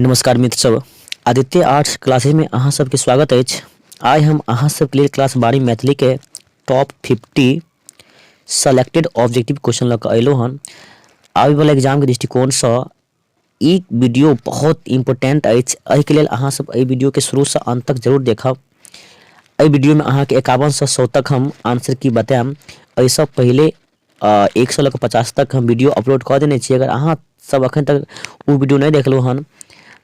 नमस्कार मित्र सब आदित्य आर्ट्स क्लासेज में अहाँ सबके स्वागत अछि आइ हम अहाँ सबके लेल क्लास बारी मैथिली के top fifty selected objective question लऽ कऽ अयलहुँ हन आबयवला एग्जामके दृष्टिकोणसँ ई वीडियो बहुत इम्पोर्टेंट अछि एहिके लेल अहाँ सब एहि वीडियोके शुरूसँ अन्त तक जरूर देखब एहि वीडियोमे अहाँके एकावनसँ सौ तक हम आंसर की बतायब एहिसँ पहिले एक सौ लऽ कऽ पचास तक हम वीडियो अपलोड कऽ देने छी अगर अहाँ सब अखन तक ओ वीडियो नहि देखलहुँ हन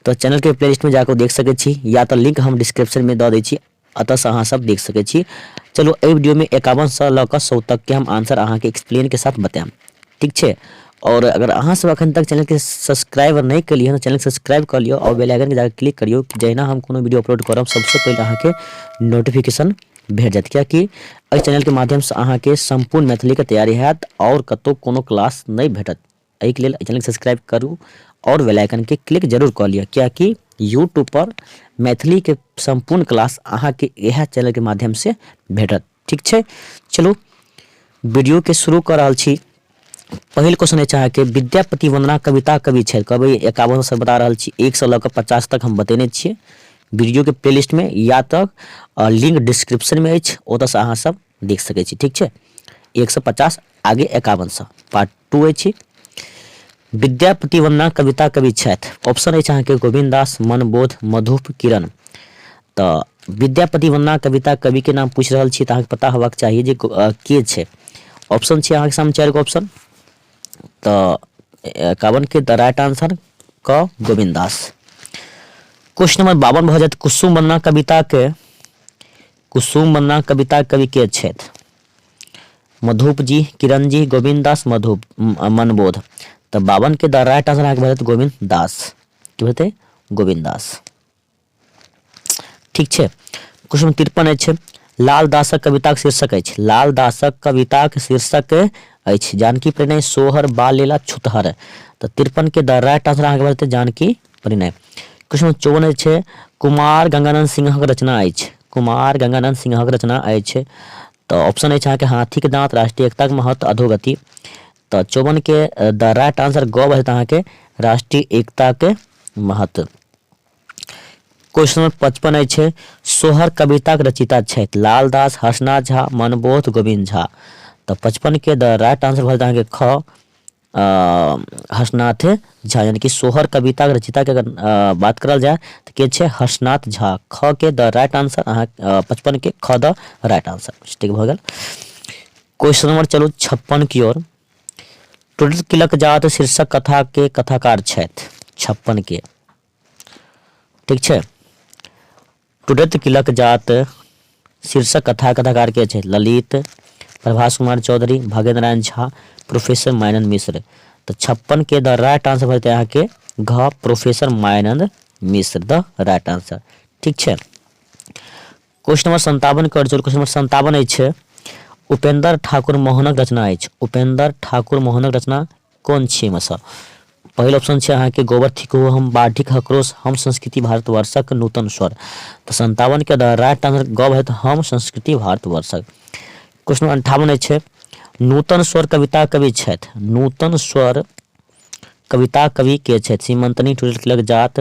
तऽ चैनलके प्ले लिस्टमे जाकऽ देख सकैत छी या तऽ लिंक हम डिस्क्रिप्शनमे दऽ दै छी अतः सँ अहाँ सब देख सकै छी। चलू एहि वीडियो में एकावन सँ लऽ कऽ सौ तक के हम आंसर अहाँ के एक्सप्लेन के साथ बताएम। ठीक छै। और अगर अहाँ सब अखन तक चैनल के सब्सक्राइब नहि केलिए हन चैनल के सब्सक्राइब क लियो और बेल आइकन के जाके क्लिक करियो कि जहिना हम कोनो वीडियो अपलोड करब सबसे पहले अहाँ के नोटिफिकेशन भेट जायत क्या कि एहि चैनल के माध्यम सँ अहाँ के संपूर्ण मैथिली के तैयारी हैत और कतौ कोनो क्लास नहि भेटत। एहिके लेल चैनलके सब्सक्राइब करू आओर बेल आइकनके क्लिक जरूर कऽ लिअ किएकि यूट्यूबपर मैथिलीके सम्पूर्ण क्लास अहाँके इएह चैनलके माध्यमसँ भेटत ठीक छै चलू वीडियोके शुरू कऽ रहल छी पहिल क्वेश्चन अछि अहाँके विद्यापति वंदना कविता कवि छथि कहबै एकावन सौ बता रहल छी एक सौ लऽ कऽ पचास तक हम बतेने छियै वीडियोके प्लेलिस्टमे या तक लिंक डिस्क्रिप्शनमे अछि ओतऽसँ अहाँसभ देख सकै छी ठीक छै एक सए पचास आगे एकावन सए पार्ट टू अछि विद्यापति वंदना कविता कवि छथि ऑप्शन अछि अहाँके गोविंद दास मनबोध मधुप किरण तऽ विद्यापति वंदना कविता कविके नाम पूछि रहल छी तऽ अहाँके पता होबाक चाही जे के छै ऑप्शन छै अहाँके सामने चारि गो ऑप्शन तऽ एकावनके द राइट आंसर क गोविंद दास क्वेश्चन नंबर बावन भऽ जायत कुसुम वंदना कविताके कुसुम मन्ना कविताक कवि के छथि? मधुप जी, किरण जी, गोविन्द दास मधुप, मनबोध। तऽ बावन के द राइट आंसर अहाँके भऽ जायत गोविन्द दास। की हेतै? गोविन्द दास। ठीक छै। क्वेश्चन तिरपन अछि लाल दासक कविताक शीर्षक अछि लाल दासक कविताक शीर्षक अछि जानकी प्रणय सोहर बाल लीला छुतहर तऽ तिरपन के द राइट आंसर अहाँके भऽ जेतै जानकी कहली नहि क्वेश्चन नंबर चौवन अछि छै कुमार गंगानंद सिंहक रचना अछि कुमार गंगानंद सिंहक रचना अछि तऽ ऑप्शन अछि अहाँके हाथीक दाँत राष्ट्रीय एकताक महत्व अधोगति तऽ चौवनके द राइट आंसर गौ हेतै अहाँके राष्ट्रीय एकताके महत्व क्वेश्चन नंबर पचपन अछि सोहर कविताक रचिता छथि लालदास हर्षनाथ झा मनबोध गोविंद झा तऽ पचपनके द राइट आंसर भऽ जेतै अहाँके ख हर्षनाथ झा यानी कि सोहर कविताक रचिताके अगर बात करल जाय तऽ के छै हर्षनाथ झा ख के द राइट आंसर अहाँ पचपन के ख द राइट आंसर ठीक भऽ गेल क्वेश्चन नंबर चलू छप्पन की ओर टुटल किलक जात शीर्षक कथा के कथाकार छथि छप्पन के ठीक छै टुडत किलक जात शीर्षक कथा कथाकार के छै ललित प्रभास कुमार चौधरी भाग्य नारायण झा प्रोफेसर मायनंद मिश्र तो छप्पन के द राइट आंसर भरते अहाँ के घ professor Mayanand Mishra the right answer ठीक है क्वेश्चन नंबर सन्तावन के जोड़ क्वेश्चन नंबर सन्तावन अछि उपेंद्र ठाकुर मोहनक रचना अछि उपेंद्र ठाकुर मोहनक रचना कोन छी एहिमे से पहिल ऑप्शन छै अहाँके गोबर थिक हो हम बाढ़िक हकरोश हम संस्कृति भारतवर्षक नूतन स्वर तऽ सन्तावन के राइट आंसर गव हेत हम संस्कृति भारतवर्षक क्वेश्चन अंठावन अछि नूतन स्वर कविता कवि छथि नूतन स्वर कविता कवि के छथि सीमंतनी टूटल किलक जात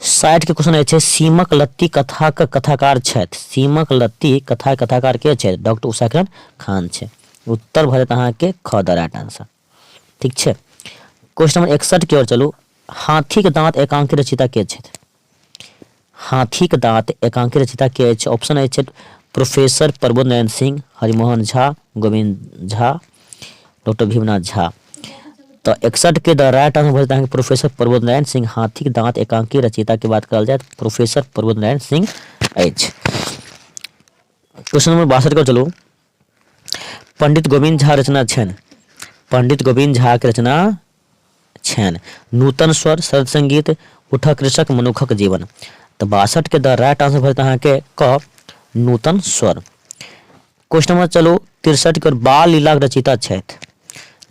साठि के क्वेश्चन अछि सीमक लत्ती कथाक कथाकार छथि सीमक लत्ती कथा कथाकार के छथि डॉक्टर उषाकिरण खान छै उत्तर भऽ जायत अहाँके ख द राइट आंसर ठीक छै क्वेश्चन नंबर एकसठ के ओर चलू हाथीक दाँत एकांकी रचिता के छथि हाथीक दाँत एकांकी रचिता के अछि ऑप्शन अछि प्रोफेसर प्रबोध नारायण सिंह हरिमोहन झा गोविंद झा डॉक्टर भीमनाथ झा तऽ एकसठके द राइट आंसर भेल अहाँके प्रोफेसर प्रबोध नारायण सिंह हाथीक दाँत एकांकी रचयिताके बात करल जाय प्रोफेसर प्रबोध नारायण सिंह अछि क्वेश्चन नंबर बासठ के चलू पंडित गोविंद झा रचना छनि पंडित गोविंद झा के रचना छैन। नूतन स्वर, शरद संगीत, उठह कृषक, मनुखक जीवन। त बासठ के द राइट आंसर भ जायत अहां के क नूतन स्वर। क्वेश्चन नंबर चलु तिरसठ के ओर बाल लीलाक रचयिता छैथ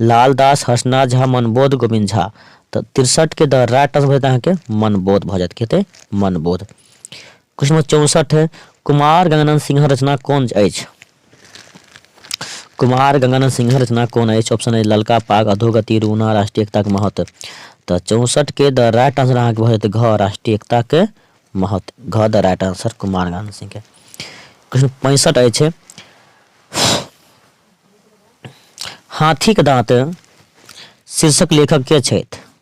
लाल दास, हर्षनाथ झा, मनबोध, गोविंद झा। त तिरसठ के द राइट आंसर भ जायत अहां के मनबोध भ जायत। की हेतय मनबोध। क्वेश्चन नंबर चौसठ है कुमार गंगानंद सिंह रचना कौन अछि कुमार गंगानंद सिंह रचना कौन अछि ऑप्शन है ललका पाग अधोगति रूना राष्ट्रीय एकता के महत्व तो चौसठ के द राइट आंसर अहाँ के घ राष्ट्रीय एकता के महत्व घ the right answer Kumar Ganganand Singh के क्वेश्चन पैंसठ अछि हाथी के दांत शीर्षक लेखक के छथि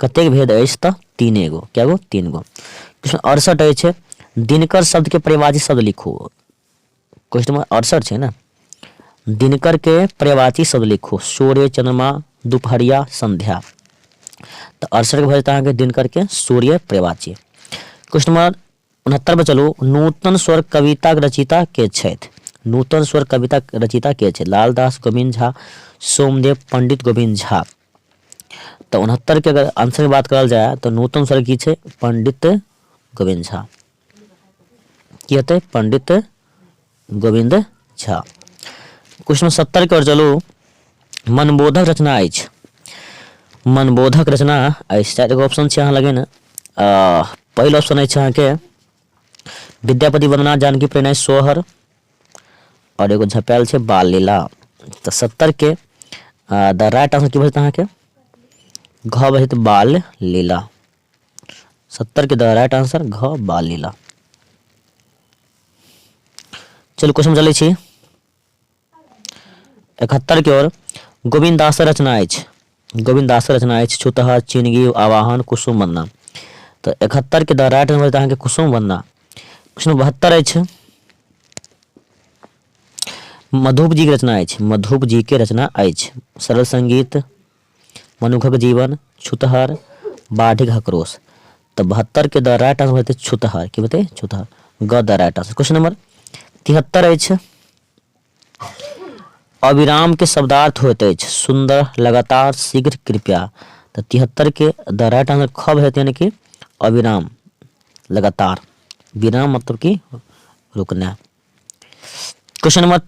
कतेक भेद अछि तऽ तीन एगो कए गो तीन गो क्वेश्चन अड़सठ अछि दिनकर शब्दके परिवाची शब्द लिखू क्वेश्चन नंबर अड़सठ छै ने दिनकरके परिवाची शब्द लिखू सूर्य चंद्रमा दुपहरिया संध्या तऽ अड़सठके भऽ जेतै अहाँके दिनकरके सूर्य परिवाची क्वेश्चन नंबर उनहत्तर पर चलू। नूतन स्वर कविताक रचयिता के छथि? नूतन स्वर कविताक रचयिता के छथि? लालदास गोविन्द झा, सोमदेव, पण्डित गोविन्द झा। तऽ उनहत्तर के अगर आंसर के बात करल जाय तऽ नूतन स्वर की छै? पण्डित गोविन्द झा। की हेतै? पण्डित गोविन्द झा क्वेश्चन नंबर सत्तर के ओर चलू मनबोधक रचना अछि मनबोधक रचना अछि चारि गो ऑप्शन छै अहाँ लगे ने पहिल ऑप्शन अछि अहाँके विद्यापति वंदना जानकी प्रेरणा सोहर और एगो झपेल छै बाल लीला तो सत्तर के द राइट आंसर की बचत अहाँ के घ बचत बाल लीला सत्तर के द राइट आंसर घ बाल लीला चलू क्वेश्चन चलै छी इकहत्तर के ओर गोविंद दास रचना अछि गोविंद दास रचना अछि छुतहर चिनगी आवाहन कुसुम वंदना तो इकहत्तर के द राइट आंसर अछि अहाँके कुसुम वंदना क्वेश्चन बहत्तर अछि मधुप जी के रचना अछि मधुप जी के रचना अछि सरल संगीत मनुखक जीवन छुतहर बाढ़िक हकरोस त बहत्तर के द राइट आंसर हेतै छुतहर की हेतै छुतहर ग the right answer question number तिहत्तर अछि अविराम के शब्दार्थ होइत अछि सुंदर लगातार शीघ्र कृपया तऽ तिहत्तर के द राइट आंसर खब हेतै यानी कि अविराम लगातार विराम मतलब कि रुकना क्वेश्चन नंबर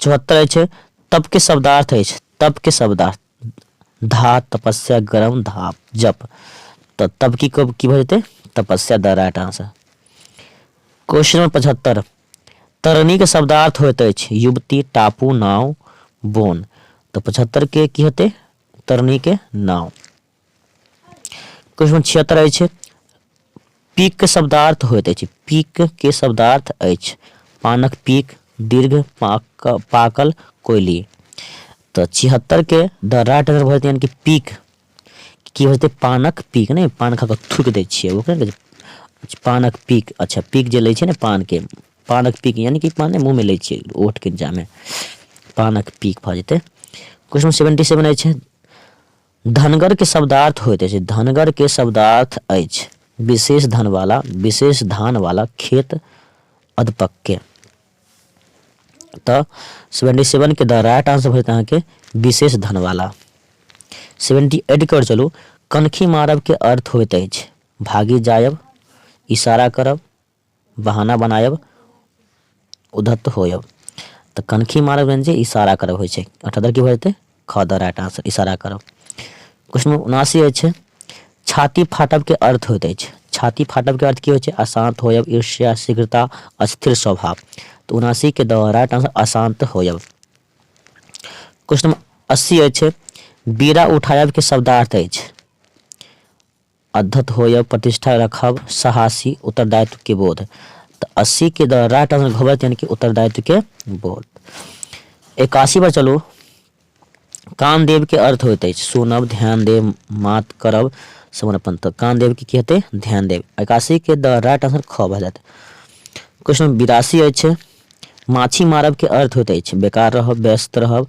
चौहत्तर अछि तप के शब्दार्थ अछि तप के शब्दार्थ धा तपस्या गरम धाप जप तो तब की कब की भजते तपस्या the right answer question number पचहत्तर तरणी के शब्दार्थ होते अछि युवती टापू नाव बोन तो पचहत्तर के की होते तरणी के नाव क्वेश्चन छिहत्तर अछि पीक के शब्दार्थ होइत अछि पीक के शब्दार्थ अछि पानक पीक दीर्घ पाक पाकल कोयली तऽ छिहत्तर के द राइट आंसर भऽ जेतै कि पीक की होतै पानक पीक नहि पान खा कऽ थूकि दै छियै ओ कहै छै पानक पीक अच्छा पीक जे लै छै ने पानके पानक पीक यानी कि पान मुँहमे लै छियै ओठके जामे पानक पीक भऽ जेतै क्वेश्चन सेवेंटी सेवन अछि धनगर के शब्दार्थ होइत अछि। धनगर के शब्दार्थ अछि विशेष धन वाला, विशेष धान वाला खेत अधपक्क के। त सेवेंटी सेवन के द राइट आंसर होइत अहाँ के विशेष धन वाला। सेवेंटी एट के ओर चलू कनखी मारब के अर्थ होइत अछि भागि जायब, इशारा करब, बहाना बनायब, उद्धत होयब। तऽ कनखी मारब यानी जे इशारा करब होइ छै। अठा दर की भऽ जेतै? ख द राइट आंसर इशारा करब। क्वेश्चन नंबर उनासी अछि छाती फाटब के अर्थ होइत अछि छाती फाटब के अर्थ की होइ छै अशांत होयब ईर्ष्या शीघ्रता अस्थिर स्वभाव तऽ उनासी के द राइट आंसर अशांत होयब क्वेश्चन नंबर अस्सी अछि बीड़ा उठायब के शब्दार्थ अछि अद्धत होयब, प्रतिष्ठा रखब, साहसी उत्तरदायित्व के बोध। त अस्सी के द राइट आंसर घोबत यानी कि उत्तरदायित्व के बोध। एकासी पर चलू कान देव के अर्थ होइत अछि सुनब, ध्यान देब, मात करब, समर्पण। त कान देव के की हेतै ध्यान देब। एकासी के द राइट आंसर ख भऽ जायत। क्वेश्चन नंबर बिरासी अछि माछी मारब के अर्थ होइत अछि बेकार रहब, व्यस्त रहब,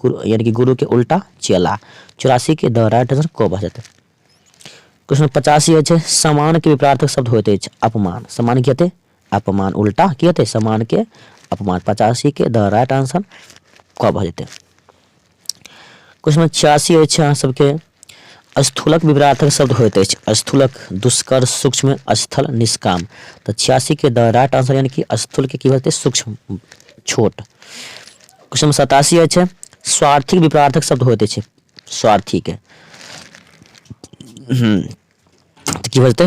गुरु यानी कि गुरु के उल्टा चेला चौरासी के द राइट आंसर क भऽ जेतै क्वेश्चन पचासी अछि समान के विपरार्थक शब्द होइत अछि अपमान समान की हेतै अपमान उल्टा की हेतै समान के अपमान पचासी के द राइट आंसर क भऽ जेतै क्वेश्चन छियासी अछि अहाँ सबके स्थूलक विपरीतार्थक शब्द होइत अछि स्थूलक दुष्कर सूक्ष्म स्थल निष्काम तऽ छियासी के द राइट आंसर यानी कि स्थूल के की होते सूक्ष्म छोट क्वेश्चन नंबर सतासी अछि स्वार्थिक विपरीतार्थक शब्द होइत अछि स्वार्थी के हम्म, की बोलते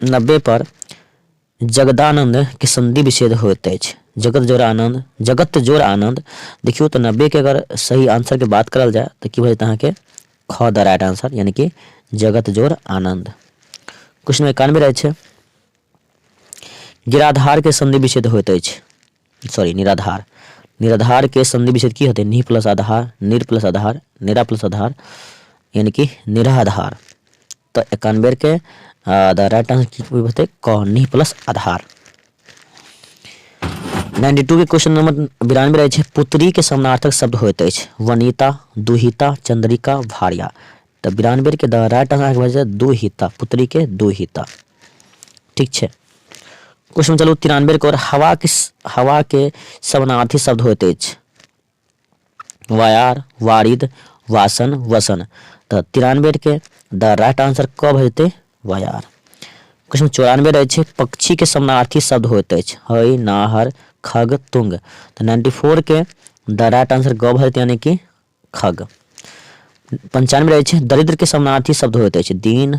नब्बे पर जगदानंद के संधि विच्छेद होते अछि जगत जोर आनंद जगत जोर आनंद देखियो तो नब्बे के अगर सही आंसर के बात करल जाए तो की भजत अहाँ के ख द राइट आंसर यानी कि जगत जोर आनंद क्वेश्चन एकानवे रहे छे गिराधार के संधि विच्छेद होते अछि सॉरी निराधार निराधार के संधि विच्छेद की होते नि प्लस आधार निर प्लस आधार निरा प्लस आधार यानी कि निराधार तो एकान बेर के द राइट आंसर की कोई बते क नी प्लस आधार 92 के क्वेश्चन नंबर बिरानवे रहे पुत्री के समानार्थक शब्द होते अछि वनिता दुहिता चंद्रिका भारिया तो बिरानवे के द राइट आंसर भए दुहिता पुत्री के दुहिता ठीक है क्वेश्चन चलू तिरानवे के और हवा के हवा के समानार्थी शब्द होते अछि वाई आर वारिद वासन वसन तऽ तिरानबे के द राइट आंसर क भऽ जेतै वाई आर क्वेश्चन चौरानबे रहै छै पक्षी के समानार्थी शब्द होइत अछि हय नाहर खग तुंग तऽ नाइन्टी फोर के द राइट आंसर ग भऽ जेतै यानी कि खग पंचानबे रहै छै दरिद्र के समानार्थी शब्द होइत अछि दीन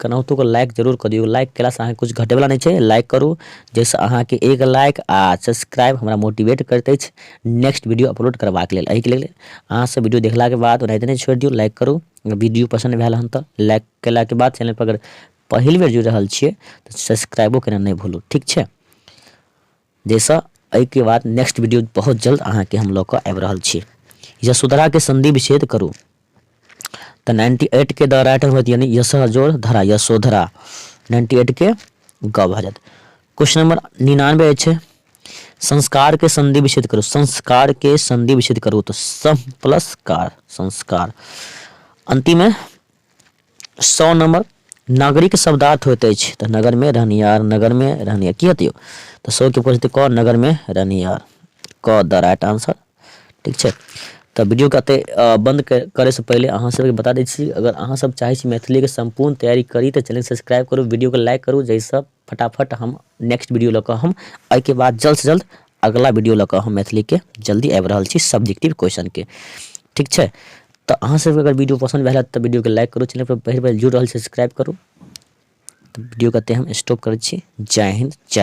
केनाहुतो कऽ लाइक जरूर कऽ दियौ लाइक केलासँ अहाँके किछु घटैवला नहि छै लाइक करू जाहिसँ अहाँके एक लाइक आ सब्सक्राइब हमरा मोटिवेट करैत अछि नेक्स्ट वीडियो अपलोड करबाक लेल एहिके लेल अहाँसभ वीडियो देखलाके बाद ओनाहिते नहि छोड़ि दियौ लाइक करू वीडियो पसन्द भेल हन तऽ लाइक केलाके बाद चैनलपर अगर पहिल बेर जुड़ि रहल छियै तऽ सब्सक्राइबो केनाइ नहि भूलू ठीक छै जइसँ एहिके बाद नेक्स्ट वीडियो बहुत जल्द अहाँके हम लऽ कऽ आबि रहल छी यशोधराके संधि विच्छेद करू तऽ नाइन्टी एटके द राइट होत यानी यश जोड़ धरा यशोधरा नाइन्टी एटके ग भऽ जायत क्वेश्चन नंबर निनानबे अछि संस्कार के संधि विच्छेद करू संस्कार के संधि विच्छेद करू तो सम प्लस कार संस्कार अंतिम है सौ नंबर नागरिक शब्दार्थ होइत अछि तऽ नगर में रहनिहार नगर में रहनिहार की हतियो तऽ सौ के ऊपर क नगर में रहनिहार क द राइट आंसर ठीक छै तऽ वीडियो के अते बंद करे से पहले अहाँ सबके बता दै छी अगर अहाँ सब चाहे छी मैथिली के संपूर्ण तैयारी करी तऽ चैनल सब्सक्राइब करू वीडियो के लाइक करू जैसे फटाफट हम नेक्स्ट वीडियो लऽ कऽ हम एहिके बाद जल्दसँ जल्द अगिला वीडियो लऽ कऽ हम मैथिलीके जल्दी आबि रहल छी सब्जेक्टिव क्वेश्चनके ठीक छै तऽ अहाँसभके अगर वीडियो पसन्द भेल तऽ वीडियोके लाइक करू चैनलपर पहिल बेर जुड़ि रहल छै सब्सक्राइब करू तऽ वीडियोके एतहि हम स्टॉप करै छी जय हिन्द जय